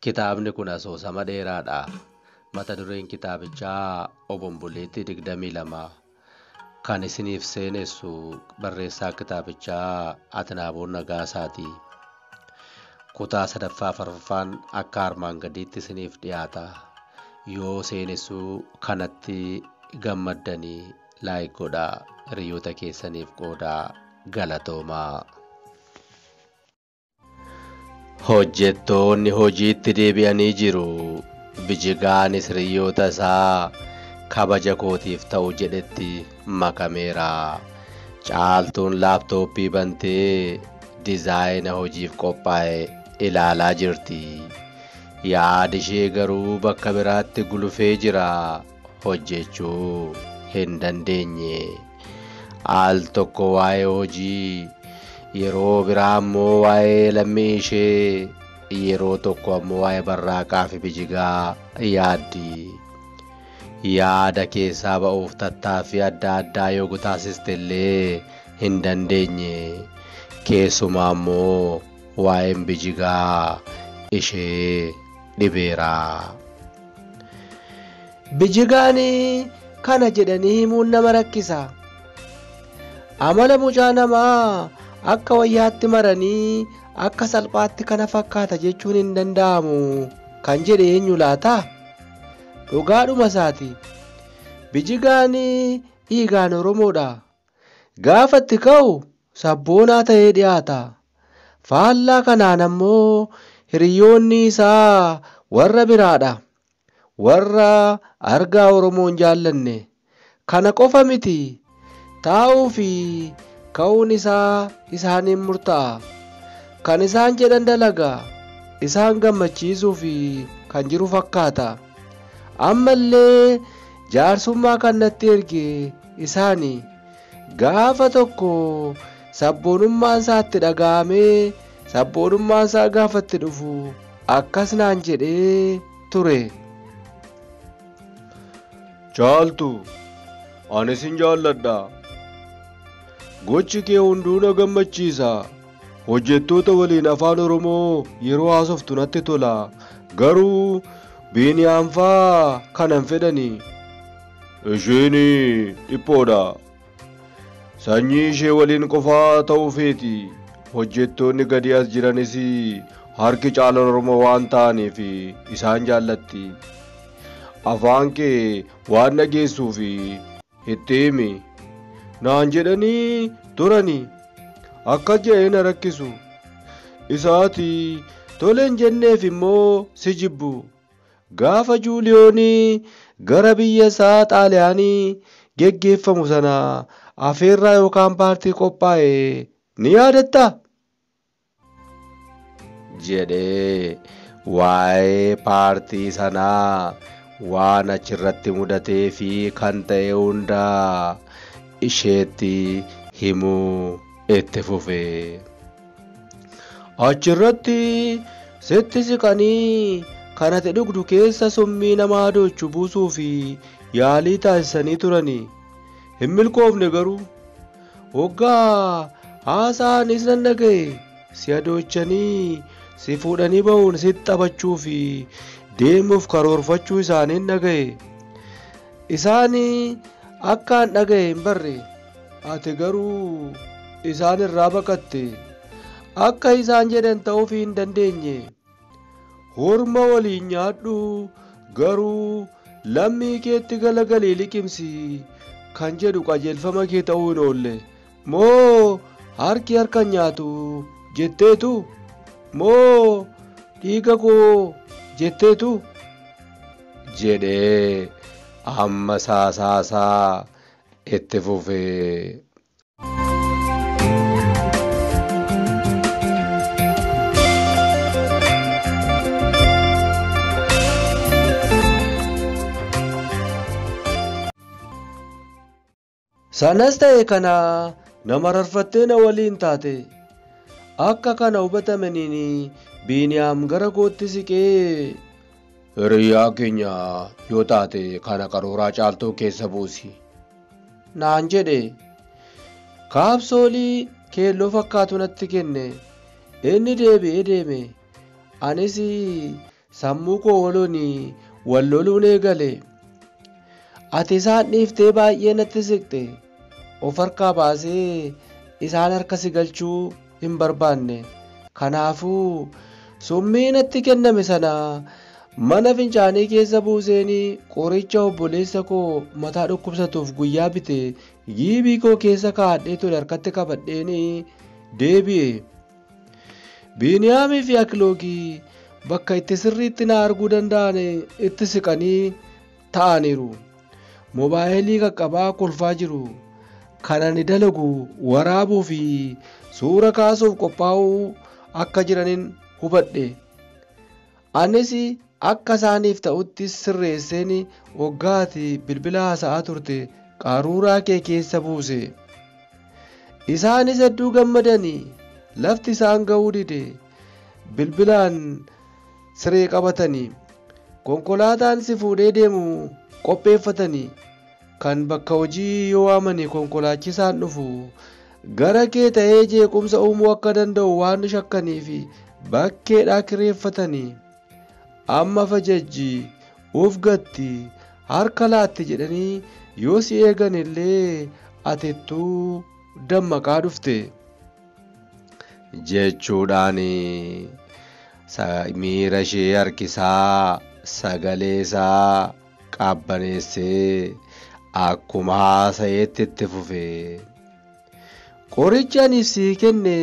Kitaabni kun asoosama dheeraadha. Mata dureen kitaabichaa Obomboleetti 22. Kan isiniif seenessu barreessaa kitaabichaa Atnaaboon Nagaasaati. Kutaa sadaffaa fi arfaffaan akka armaan gadiitti isiniif dhiyaata. Yoo seenessuu kanatti gammaddanii like godhaa hiriyoota keessaniif qoodaa galatoomaa. Hojjettoonni hojiitti deebi'anii jiru. Bijigaanis hiriyoota isaa kabaja kootiif ta'u jedhetti makameera. Caaltuun laaptooppii bantee dizaayina hojiif qophaa'e ilaalaa jirti. Yaadi ishee garuu bakka biraatti gulufee jira. Hojjechuu hin dandeenye. Al tokko waa'ee hojii, yeroo biraa ammoo waa'ee lammii ishee, yeroo tokko ammoo waa'ee barraaqaa fi bijigaa yaaddi. yaada keessaa ba'uuf tattaaffii adda addaa yoo gutaasiste illee hin dandeenye. Keessumaa immoo waa'een bijigaa ishee dhibeera. Bijigaan kana jedhanii himuun nama rakkisa. Amala mucaa namaa akka wayyaatti maranii akka salphaatti kana fakkaata jechuun hin danda'amu kan jedhe eenyu laata? Dhugaadhuma isaati. Bijigaan dhiigaan Oromoodha. Gaafa itti ka'u sabboonaa ta'ee dhiyaata. Faallaa kanaan ammoo hiriyoonni isaa warra biraadha. Warra argaa Oromoon jaallanne. Kana qofa miti, taa'uu fi ka'uun isaa isaaniin murta'a. Kan isaan jedhan dalaga, isaan gammachiisuu fi kan jiru fakkaata. Amma illee jaarsummaa kan natti erge isaani. Gaafa tokko sabboonummaan isaa itti dhaga'amee sabboonummaan isaa gaafa itti dhufu akkas naan jedhee ture. Caaltu, ani sin jaalladha. Gochi kee hunduu na gammachiisa. Hojjettoota waliin afaan Oromoo yeroo haasoftu natti tola. Garuu Biiniyaam faa kanan fedhani. Isheen dhiphoodha. Sanyii ishee waliin qofaa ta'uu feeti. Hojjettoonni gadi as jiranis harki caalan Oromoo waan ta'aniif isaan jaallatti. Afaan kee waan dhageessuuf itti himi. Naan jedhanii turani. Akkas jedhee na rakkisu. Isaati toleen jenneef immoo si jibbu. Gaafa Juuliyoon gara biyya isaa Xaaliyaanii geggeeffamu sana afeerraa yookaan paartii qophaa'e ni yaadattaa? jedhee waa'ee paartii sanaa waan achirratti mudatee fi kan ta'e hunda isheetti himuu itti fufe. Achirratti sitti siqanii kan ati dhugdu keessa summii nama adoochu buusuu fi yaalii taasisanii turani. Hin milkoofne garuu. Hoggaa haasa'anis nan dhaga'e si adoochanii si fuudhanii ba'uun sitti taphachuu fi deemuuf karoorfachuu isaaniin dhaga'e. Isaan akkaan dhaga'e hin barre. Ati garuu isaan irraa baqatte. Akka isaan jedhan ta'uuf hin dandeenye. Horma waliin nyaadhu garuu lammii keetti galagalii liqimsi kan jedhu qajeelfama kee ta'uu hin oolle. Moo harki harka nyaatu jetteetu? Moo dhiiga koo jetteetu? jedhee amma saasaasaa itti fufee. Sanas ta'e kana nama rarfattee na waliin taate. Akka kana hubatamaniin Biiniyaam gara kootti siqee Hiriyaa keenya yoo taate kana qarooraa caaltuu keessa buusi. Naan jedhe. Kaapsoolii keelloo fakkaatu natti kenne. Inni deebi'ee deeme. Anis sammuu koo waloon wal loluun eegale. Ati isaan dhiiftee baay'ee natti siqxe. Of harkaa baasee isaan harka si galchuu hin barbaanne. Kanaafuu summii natti kenname sana mana fincaanii keessa buuseen qoricha obboleessa koo mataa dhukkubsatuuf guyyaa bite giibii koo keessa kaa'adhee ture harkatti qabadheen deebi'e. Biiniyaamii fi Akiloogii bakka itti sirriitti na arguu danda'an itti siqanii ta'aniiru. Mobaayilii qaqqabaa kolfaa jiru. Kan ani dalagu waraabuu fi suura kaasuuf qophaa'uu akka jiranin hubadhe. Anis akka isaaniif ta'utti sirreesseen waggaati bilbila haasa'aa turte qaruuraa kee keessa buuse. Isaanis hedduu gammadani lafti isaan ga'uu dide. Bilbilaan siree qabatanii konkolaataan si fuudhee deemu qopheeffatanii kan bakka hojii yoo waamani konkolaachisaan dhufu gara kee ta'ee jeequmsa uumuu akka danda'u waan shakkanii fi bakkeedhaa kireeffatanii amma fajajji uf gatti harka laatti jedhanii yoo si eegan illee atittuu dammaqaa dhufte. jechuudhaan miira ishee harkisaa sagalee isaa qabbaneessee akkuma haasa'eetti itti fufe. Qorichi ani sii kenne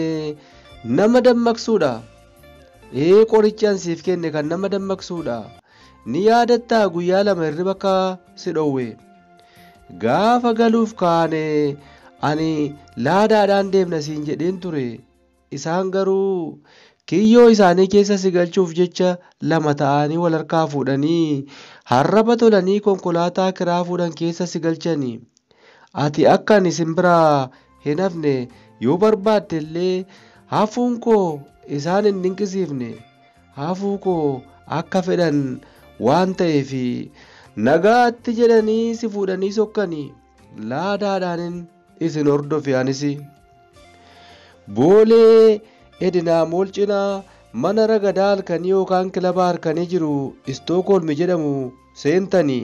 nama dammaqsuudha. Ee qorichi ani siif kenne kan nama dammaqsuudha. Ni yaadattaa guyyaa lama hirriba akka si dhowwe. Gaafa galuuf kaane ani laadaadhaan deemna siin jedheen ture. Isaan garuu kiyyoo isaanii keessa si galchuuf jecha lama ta'anii wal harkaa fuudhanii harraba tolanii konkolaataa kiraa fuudhan keessa si galchani. Ati akka ani isin biraa hin hafne yoo barbaadde illee hafuun koo isaan hin dinqisiifne. hafuu koo akka fedhan waan ta'eef nagaatti jedhanii si fuudhanii sokkani laadaadhaanin isin hordofe anis boolee edinaa mool cinaa mana ragadaa halkanii yookaan kilaba harkanii jiru istookoolmi jedhamu seentanii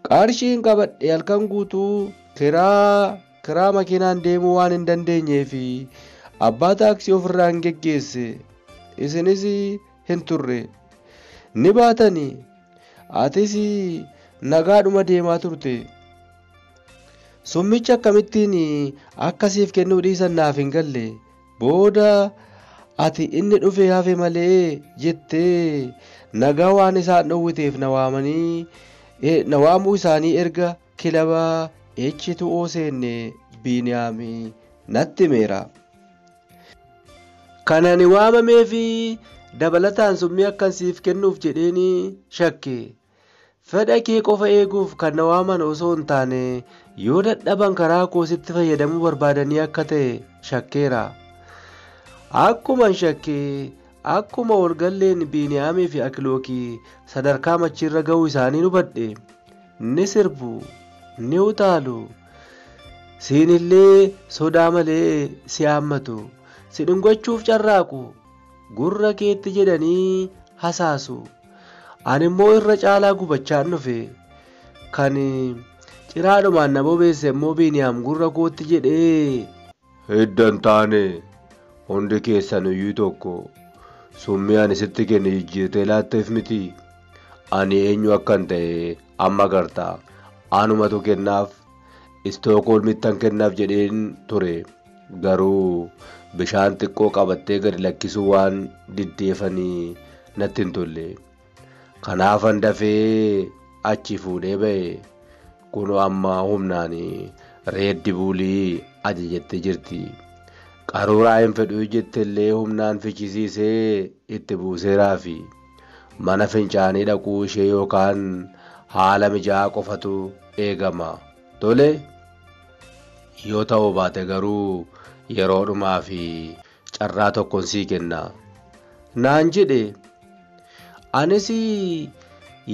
qarshiin qabadhe halkan guutuu kiraa Kiraa makiinaan deemuu waan hin dandeenyeef abbaa taaksii ofirraan geggeesse. Isinis hin turre. Ni baatani. Atis nagaadhuma deemaa turte. Summicha akkamittiin akka siif kennuu dhiisan naaf hin galle. Booda ati inni dhufee hafe malee jettee nagaa waan isaan dhowwiteef na waamanii na waamuu isaanii erga Kilaba H2O seenne Biiniyaam natti himeera. Kan ani waamamee fi dabalataan summii akkan siif kennuuf jedheen shakke. Fedha kee qofa eeguuf kan na waaman osoo hin taane yoo dadhaban karaa koo sitti fayyadamuu barbaadanii akka ta'e shakkeera. Akkuman shakke akkuma walgalleen Biiniyaamii fi Akilookii sadarkaa machiirra ga'uu isaanii hubadhe. ni sirbu ni utaalu siinillee sodaa malee si haammatu si dhungachuuf carraaqu gurra keetti jedhanii hasaasu ani immoo irra caalaa gubachaan dhufe kan ciraadhumaan na bobeesse immoo biiniyaam gurra kootti jedhee Hidda hin taane, hundi keessanuyyuu tokko. Summii ani sitti kenne jijjiirtee laatteef mitii? Ani eenyu akkan ta'e amma agarta. Anumatu kennaaf Istookoolmittan kennaaf jedheen ture. Garuu bishaan xiqqoo qabattee gadi lakkisuu waan diddeefani natti hin tolle. Kanaafan dafee achi fuudhee ba'e. Kunoo amma humnaan reeddi buulii ajajattee jirti. Qaruuraa hin fedhuu jettellee humnaan fichisiisee itti buuseeraafi. Mana fincaanii dhaquu ishee yookaan haala mijaa'aa qofatu eegama. Tole? Yoo ta'uu baate garuu yeroodhumaafi. carraa tokkon sii kenna naan jedhe anis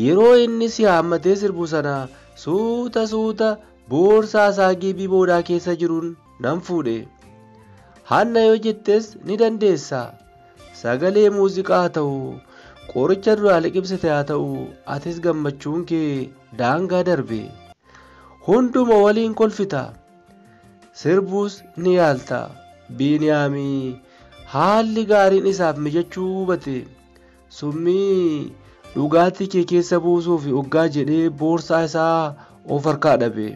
yeroo inni si haammatee sirbu sana suuta suuta boorsaa isaa giibii boodaa keessa jiruun nan fuudhe hanna yoo jettes ni dandeessa sagalee muuziqaa haa ta'u qoricha duraa liqimsite haa ta'u atis gammachuun kee daangaa darbe hunduma waliin kolfita. Sirbuus ni yaalta. Biiniyaami haalli gaariin isaaf mijachuu hubate. Summii dhugaatii kee keessa buusuuf oggaa jedhee boorsaa isaa of harkaa dhabe.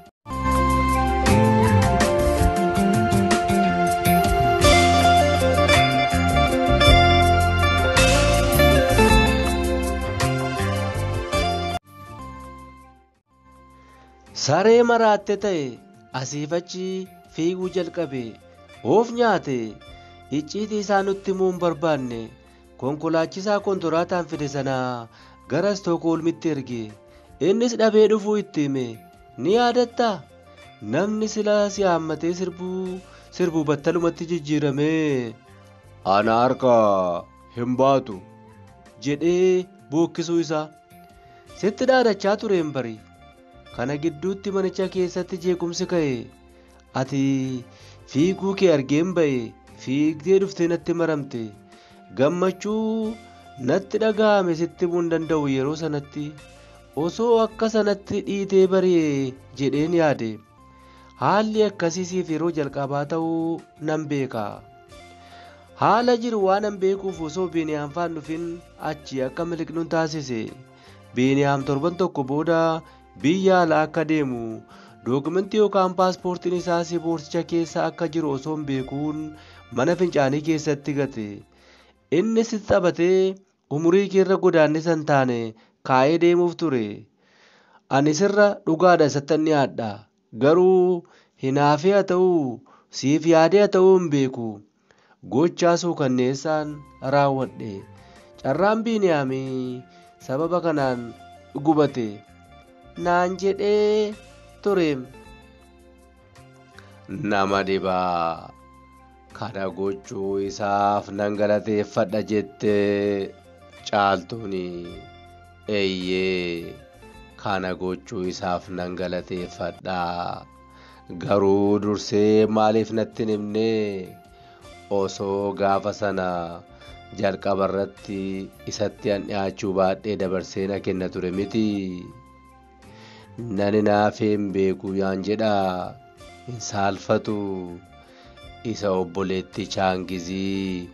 Saree maraatte ta'e asiif achi fiiguu jalqabe. Of nyaate. Icciitii isaa nutti himuu hin barbaanne. Konkolaachisaa kontoraataan fide sana gara Istookhoolmitti erge. Innis dhabee dhufuu itti hime. Ni yaadatta? Namni sila si haammatee sirbuu sirbu battalumatti jijjiiramee. Ana harka hin baatu jedhee bookkisuu isaa. Sitti dhaadachaa tureen bari. Kana gidduutti manicha keessatti jeequmsi ka'e. Ati fiiguu kee argeen ba'e fiigdee dhuftee natti maramte. Gammachuu natti dhaga'ame sitti himuu hin danda'u yeroo sanatti. Osoo akka sanatti dhiitee bari'e jedheen yaade. Haalli akkasii siif yeroo jalqabaa ta'uu nan beeka. Haala jiru waanan beekuuf osoo Beniyaam faan dhufin achi akka miliqnun taasise. Beniyaam torban tokko booda biyya ala akka deemu dookumentii yookaan paaspoortiin isaa si boorsicha keessa akka jiru osoon beekuun mana fincaanii keessatti gate. Inni sitti taphatee Umurii keerra godaannisa hin taane kaa'ee deemuuf ture. Ani sirra dhugaadha isattan dhiyaadha. Garuu hinaafee haa ta'uu, siif yaadee haa ta'uu hin beeku. Gochaa suukanneessaan raawwadhe. Carraan Biiniyaam sababa kanaan gubate. Naan jedhee ture. nama dhiba kana gochuu isaaf nan galateeffadha jette caaltuun eeyyee kana gochuu isaaf nan galateeffadha garuu dursee maaliif natti himne osoo gaafa sana jalqaba irratti isatti an dhiyaachuu baadhee dabarsee na kenna ture miti Nani naafee hin beeku yaan jedha hin saalfatu isa obboleetti chaangizii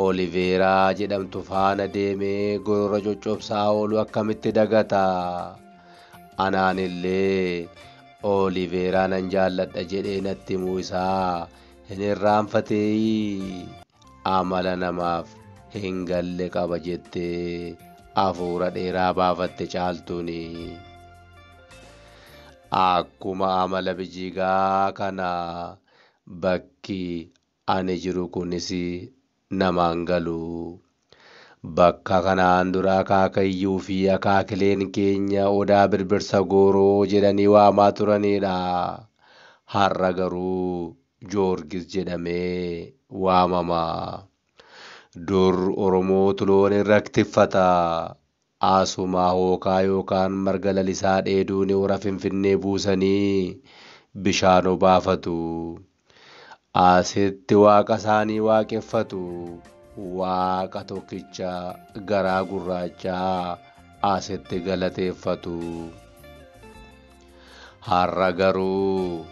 oliveeraa jedhamtu faana deemee gorora coccobsaa oolu akkamitti dagata anaanillee oliveeraa nan jaalladha jedhee natti himuu isaa hin irraanfateeyii. amala namaaf hin galle qaba jettee afuura dheeraa baafatte caaltuun. Akkuma amala bijigaa kana bakki ani jiru kunis namaan galu. Bakka kanaan dura akaakayyuu fi akaakileen keenya odaa birbirsa gooroo jedhanii waamaa turanidha. Har'a garuu Joorgis jedhamee waamama. Dur Oromootu loon irrak tiffata. Aasumaa hookaa yookaan marga lalisaa dheeduuni hora Finfinnee buusanii bishaan obaafatu. Asitti waaqa isaanii waaqeffatu. Waaqa tokkicha garaa gurraachaa asitti galateeffatu. Har'a garuu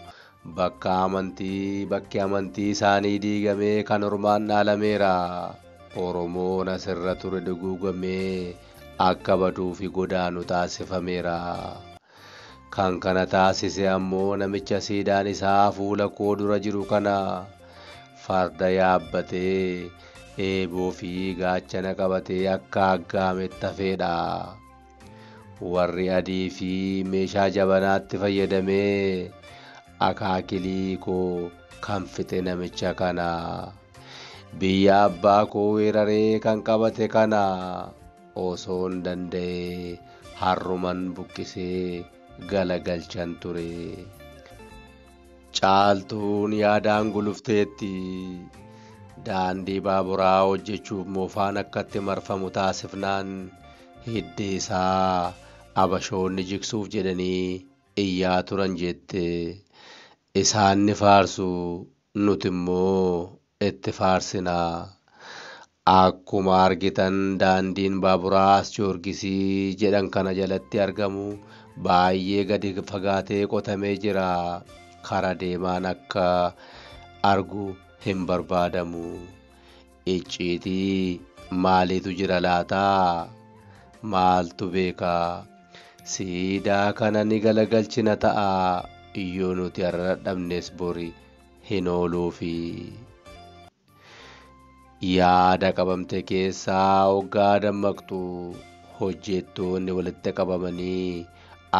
Bakka amantii bakki amantii isaanii diigamee kan ormaan dhaalameera. Oromoon asirra ture duguugamee akka baduu fi godaanu taasifameera. Kan kana taasise ammoo namicha siidaan isaa fuula koo dura jiru kana. Farda yaabbatee, eeboo fi gaachana qabatee akka aggaametti hafeedha. Warri adii fi meeshaa jabanaatti fayyadamee akaakilii koo kan fixe namicha kana. Biyya abbaa koo weeraree kan qabate kana osoon danda'e harruman buqqisee galagalchan ture. Caaltuun yaadaan gulufteetti. Daandii baaburaa hojjechuuf moofaan akkatti marfamu taasifnaan hidda isaa Abashoonni jigsuuf jedhanii iyyaa turan jette. Isaan ni faarsu, nuti immoo itti faarsina. Akkuma argitan daandiin baaburaa As Joorgisii jedhan kana jalatti argamu baay'ee gadi fagaatee qotamee jira. Kara deemaan akka argu hin barbaadamu. Icciitii maaliitu jira laata? Maaltu beeka? Siidaa kana ni galagalchina ta'a, yoo nuti har'a dadhabnes bori hin ooluufi. Yaada qabamte keessaa oggaa dammaqxu hojjettoonni walitti qabamanii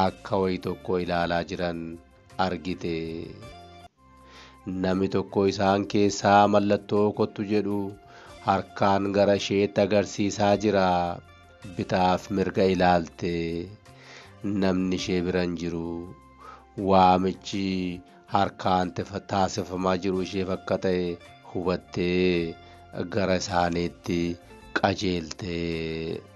akka wayi tokko ilaalaa jiran argite. Namni tokko isaan keessaa mallattoo kottu jedhu harkaan gara isheetti agarsiisaa jira. Bitaaf mirga ilaalte. Namni ishee bira hin jiru. Waamichi harkaan tefa- taasifamaa jiru isheef akka ta'e hubattee gara isaaniitti qajeelte.